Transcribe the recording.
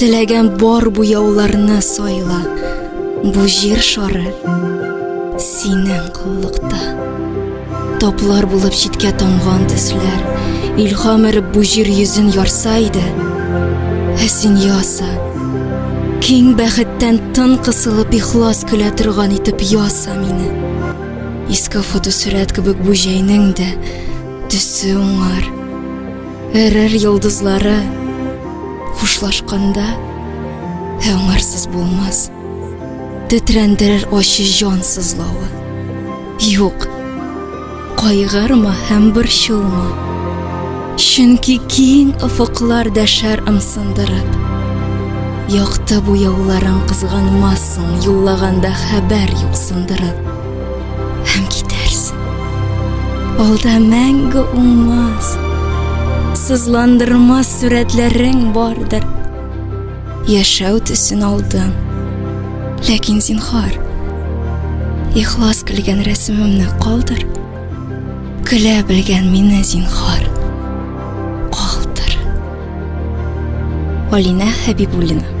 Теләгән бар буяуларны сайла, Бу җир шары синең куллыкта. Таплар булып читкә тамган төсләр, Илһам эреп бу җир йөзен ярса иде, Ә син яса, киң бәхеттән тын кысылып Ихлас көлә торган итеп яса мине. Иске фотосурәт кебек бу җәйнең дә Төсе уңар, Эрер йолдызлары хушлашканда Ә аңарсыз булмас Тетрәндерер ачы җан сызлавы Юк, кайгырма һәм борчылма Чөнки киң офыклар дәшәр ымсындырып Якты буяуларын кызганмассың Юллаганда хәбәр юк сындырып Һәм китәрсең. Алда мәңге уңмас, сызландырмас сурәтләрең бардыр. Яшәү төсен алдың. Ләкин зинхар, ихлас көлгән рәсемемне калдыр. Көлә белгән мине зинхар. Калдыр. Алинә Хәбибуллина